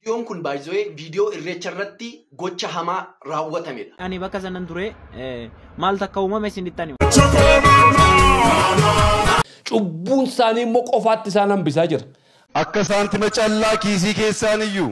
Viidiyoon kun baay'ee viidiyoo irreecha irratti gocha hamaa raawwatamedha. Ani bakka sanan ture eh, maal takka uumame isinitti ani. Cubbuun isaanii immoo qofaatti isaan hambisaa jira. Akka saantima callaa kiisii keessaaniyyuu.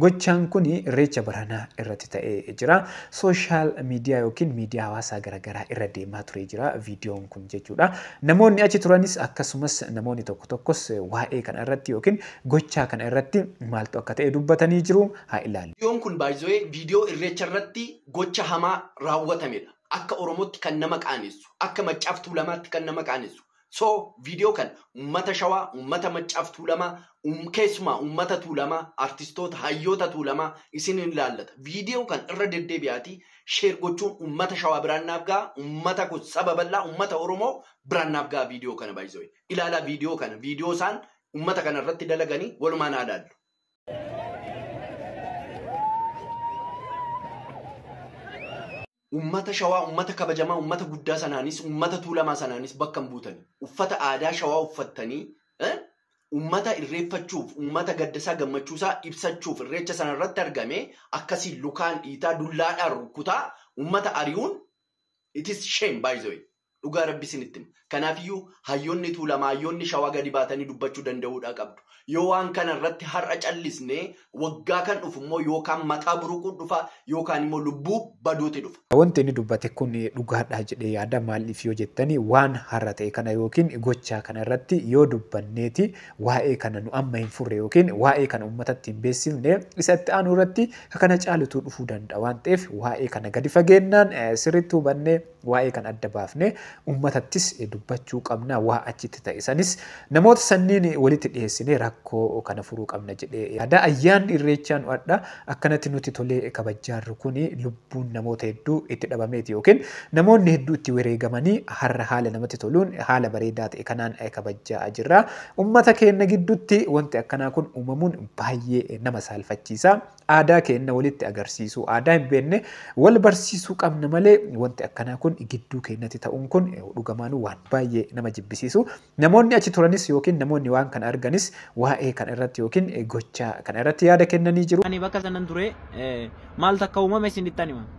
Gochaan kun Irreecha baranaa irratti ta'ee jira. Social media yookiin miidiyaa hawaasaa garagaraa irra deemaa turee jira viidiyoon kun jechuudha. Namoonni achi turanis akkasumas namoonni tokko tokkos waa'ee kana irratti yookiin gochaa kana irratti maaltu akka ta'e dubbatanii jiru. Haa ilaallu. Viidiyoon kun by the way viidiyoo Irreecha irratti gocha hamaa raawwatamedha. Akka Oromootti kan nama qaanessu, akka Maccaaf Tuulamaatti kan nama qaanessu, So viidiyoo kana uummata Shawaa, uummata Maccaaf Tuulamaa, um, keessumaa uummata Tuulamaa, artistoota, hayyoota Tuulamaa isin hin ilaallata. Viidiyoo kana irra deddeebi'aatii sheer gochuun uummata Shawaa biraan naaf ga'a, uummata kun saba bal'aa, uummata Oromoo biraan naaf ga'a viidiyoo kana baay'isoo. Ilaalaa viidiyoo kana, viidiyoo isaan uummata kana irratti dalaganii walumaan haa ilaallu. Uummata Shawaa, uummata kabajamaa, uummata guddaa sanaanis, uummata Tuulamaa sanaanis bakka hin buutani. Uffata aadaa Shawaa uffattanii uummata irreeffachuuf, uummata gaddasaa gammachuusaa ibsachuuf irreecha sanarratti argame akkasiin lukaan dhiitaa, dullaadhaan rukkutaa uummata ari'uun it is shame by the way. Dhugaa rabbi isinitti hima. Kanaafiyyuu hayyoonni Tuulamaa, hayyoonni Shawaa gadi baatanii dubbachuu danda'uudhaa qabdu. Yoo waan kana irratti har'a callisne waggaa kan dhufu immoo yookaan mataa buruquun dhufa yookaan immoo lubbuu baduuti dhufa. Wanti inni dubbate kun dhugaadhaa jedhee yaada maaliif yoo jettan waan har'a ta'e kana yookiin gochaa kana irratti yoo dubbanneeti waa'ee kana nu amma hin furre yookiin waa'ee kana uummatatti hin beeksifne isa itti aanu irratti kana caalutu dhufuu danda'a waan ta'eef waa'ee kana gadi fageennaan sirriitti hubannee Waa'ee kana adda baafnee uummatattis dubbachuu qabna. Waa achitti ta'e sanis namoota sanniin walitti dhiheessinee rakkoo kana furuu qabna jedhee yaada. Ayyaanni Irreechaa nu adha akkanatti nutti tolee kabajjaarru kuni lubbuun namoota hedduu itti dhabameeti yookiin namoonni hedduu itti wereegamanii harra haala namatti toluun haala bareedaa ta'e kanaan kabajjaa jirra. Uummata keenna giddutti wanti akkanaa kun uumamuun baayyee nama saalfachiisa. Aadaa keenna walitti agarsiisuu, aadaa hin beenne wal barsiisuu qabna malee wanti akkanaa kun gidduu keennatti ta'uun kun dhugamaanuu waan baay'ee nama jibbisiisu. Namoonni achi turanis yookiin namoonni waan kana arganis waa'ee kana irratti yookiin gocha kana irratti yaada kennanii jiru. Ani bakka sanan ture, maal takka uumame isinittan hima.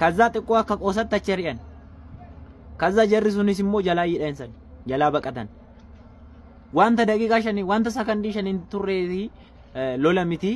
Kazzaa xiqqoo akka qoosatti achi ari'an. Kazzaa jarri sunis immoo jalaa hidhan san jalaa baqatan. Wanta daqiiqaa shanii wanta sakandii shaniin turreetii lola miti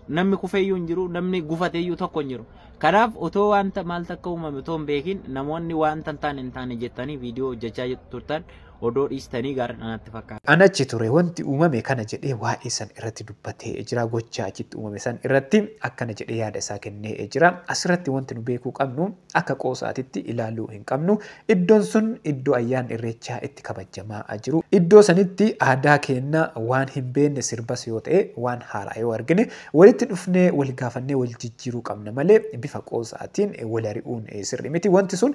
namni kufeeyyuu hin jiru namni gufateeyyuu tokko hin jiru. Kanaaf otoo wanta maal takka uumame otoo hin beekin namoonni wanta hin taane hin taane jettanii viidiyoo hojjechaa turtan odoo dhiistanii gaariidha natti fakkaata. An achi ture wanti uumame kana jedhee waa'ee san irratti dubbatee jira. Gochaa achitti uumame san irratti akkana jedhee yaada isaa kennee jira. Asirratti wanti nu beekuu qabnu akka qoosaatitti ilaaluu hin qabnu. Iddoon sun iddoo ayyaanni irreechaa itti kabajamaa jiru. Iddoo sanitti aadaa keenna waan hin beenne sirbas yoo ta'e waan haaraa yoo argine walitti dhufnee wal gaafannee wal jijjiiruu qabna malee bifa qoosaatiin wal ari'uun sirrii miti. Wanti sun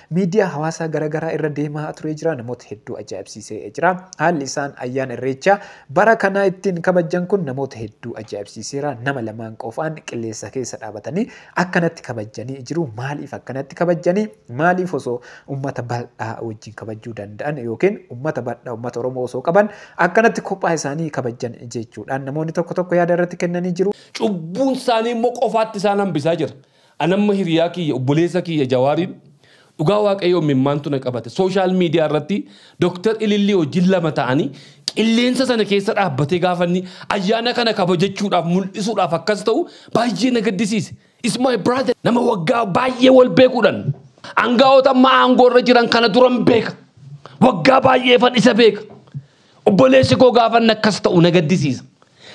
Miidiyaa hawaasaa gara garaa irra deemaa turee jira. Namoota hedduu ajaa'ibsiisee jira. Haalli isaan ayyaana Irreechaa bara kanaa ittiin kabajjan kun namoota hedduu ajaa'ibsiiseera. Nama lamaan qofaan qilleensa keessa dhaabatanii akkanatti kabajjanii jiru. Maaliif akkanatti kabajjanii? Maaliif osoo uummata bal'aa wajjin kabajjuu danda'an yookiin uummata bal'aa uummata Oromoo osoo qaban akkanatti kophaa isaanii kabajjan jechuudhaan namoonni tokko tokko yaada irratti kennanii jiru. Cubbuun isaanii immoo qofaatti isaan hambisaa jira. An amma hiriyaa kiyya obboleessa kiyya jawaariin dhugaa waaqayyoo immimmaantu na qabate social media irratti Dr. Ilillii wajjin lama ta'anii qilleensa sana keessa dhaabbatee gaafa inni ayyaana kana kabajachuudhaaf mul'isuudhaaf akkas ta'u baay'ee na gaddisiise. Is my brother nama waggaa baay'ee wal beekuudhan angaa'ota amma aangoo irra jiran kana duran beeka waggaa baay'eefan isa beeka Obboleessi koo gaafa inni akkas ta'u na gaddisiisa.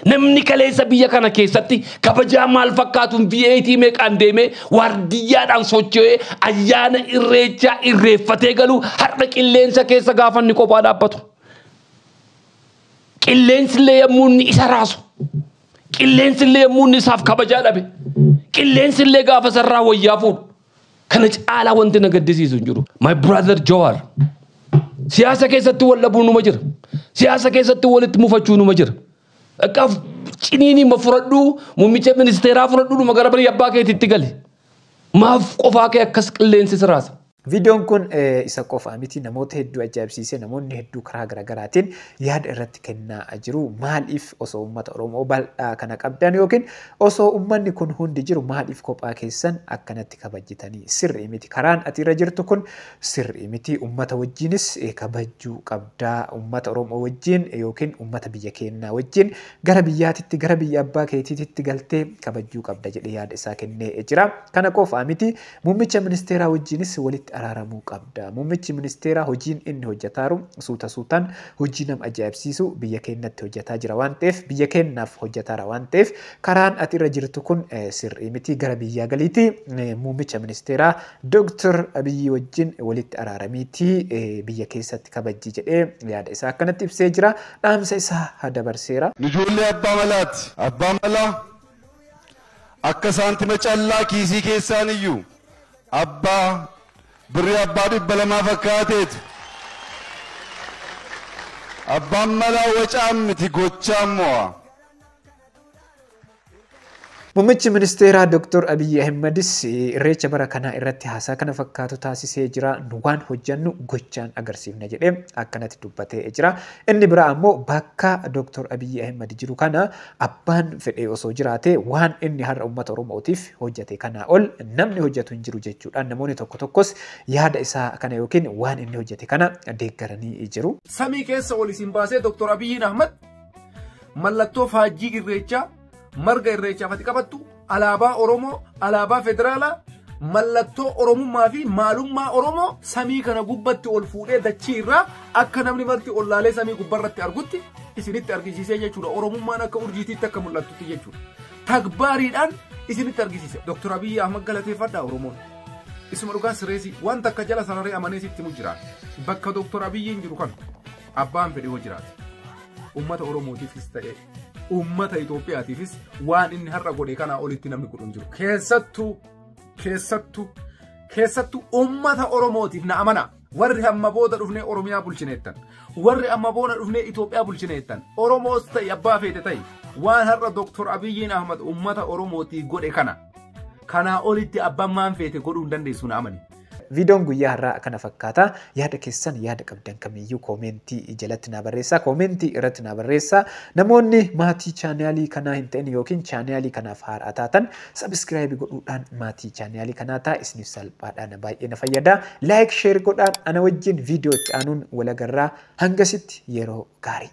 Namni kaleessa biyya kana keessatti kabajaa maal fakkaatuun VAT meeqaan deemee waardiyyaadhaan socho'ee ayyaana irreechaa irreeffatee galuu har'a qilleensa keessa gaafa inni kophaa dhaabbatu. Qilleensi illee yommuu inni isa raasu. Qilleensi illee yommuu inni isaaf kabajaa dhabe. Qilleensi illee gaafa sarraa wayyaa fuudhu. Kana caalaa wanti na gaddisiisu hin jiru. My brother Jawaar. Siyaasa keessatti wal dhabuu numa jira. Siyaasa keessatti walitti mufachuu numa jira. Akka ciniinii ma fudhadhuu muummicha ministeeraa fudhadhuu dhuma gara bari abbaa keetiitti gali. Maaf qofaa kee akkas qilleensi siraasa. Viidiyoon kun eh, isa qofa miti namoota hedduu ajaa'ibsiisee namoonni hedduu karaa garaagaraatiin yaada irratti kennaa jiru. Maaliif osoo uummata Oromoo bal'aa kana qabdan yookiin Osoo ummanni kun hundi jiru maaliif kophaa keessan akkanatti kabajjitanii? Sirrii miti. Karaan ati irra jirtu kun sirrii miti. Ummata wajjiinis kabajjuu qabda. Ummata Oromoo wajjiin ykn ummata biyya keennaa wajjiin gara biyyaatitti, gara biyya abbaa keetiititti galtee kabajjuu qabda jedhee yaada isaa kennee jira. Kana qofaa miti. Muummicha ministeeraa wajjiinis walitti araaramuu qabda. Muummichi ministeeraa hojiin inni hojjataaru suuta suutaan hojii nam ajaa'ibsiisu biyya keennatti hojjataa jira waan ta'eef biyya keennaaf hojjataara waan ta'eef karaan ati irra jirtu kun sirrii miti gara biyyaa galiiti muummicha ministeeraa Dr. Abiyyii wajjin walitti araaramiiti biyya keessatti kabajji jedhee yaada isaa akkanatti ibsee jira dhaamsa isaa dabarseera. Nu ijoollee abbaa malaati. Abbaan malaa. Akka saantima callaa kiisii keessaan iyyuu abbaa birrii abbaa dhibba lamaa fakkaateeti. Abbaan malaa wacaan miti gochaan mo'a. Muummichi ministeeraa Dr. Abiyyi Ahimmadis irreecha bara kanaa irratti haasaa kana fakkaatu taasisee jira. Nu waan hojjannu gochaan agarsiifna jedhee akkanatti dubbatee jira. Inni biraa ammoo bakka Dr. Abiyyi Ahimmad jiru kana Abbaan fedhe osoo jiraate waan inni har'a ummata Oromootiif hojjate kanaa ol namni hojjatu hin jiru jechuudhaan namoonni tokko tokkos yaada isaa kana yookiin waan inni hojjate kana deeggaranii jiru. Samii keessa ol isin baasee Dr. Abiyyiin Ahmad mallattoo faajjii irreechaa marga irreechaaf ati qabattu Alaabaa Oromoo, Alaabaa Federaalaa, mallattoo Oromummaa fi maalummaa Oromoo samii kana gubbatti ol fuudhee dachii irraa akka namni marti ol laalee samii gubbarratti argutti isinitti argisiisee jechuudha. Oromummaan akka urjiitiitti akka mul'attutti jechuudha. Tagbaariidhaan isinitti argisiise. Dr. Abiyyi Ahmad galateeffadhaa Oromoon. Isuma dhugaa sireesii wanta akka jala sararee amanee sitti mu jiraata. Bakka Dr. Abiyyiin jiru kan abbaan fedhe hoo jiraate. Uummata Oromootiifis ta'ee uummata Itoophiyaatiifis waan inni har'a godhe kanaa olitti namni godhu hin jiru. Keessattuu keessattuu keessattuu uummata Oromootiif na amanaa. Warri amma booda dhufnee Oromiyaa bulchineettan. Warri amma booda dhufnee Itoophiyaa bulchineettan. Oromoos ta'e abbaa feete ta'e waan har'a Dooktor Abiyyiin Ahmad uummata Oromootiif godhe kana. Kanaa olitti abbaan maan feete godhuu hin dandeessu na amani. Viidoon guyyaa har'aa kana fakkaata. Yaada keessan yaada qabdan kamiyyuu koomeentii jalatti naa barreessaa. Koomeentii irratti naa barreessaa. Namoonni maatii chaanaalii kanaa hin ta'in yookiin chaanaalii kanaaf haaraa taatan sabiskiraayibii godhuudhaan maatii chaanaalii kanaa ta'a. Isiniif salphaadha na baay'ee na fayyada. Laayik sheer godhaan ana wajjin viidiyoo itti aanuun wal agarraa. Hangasitti yeroo gaarii.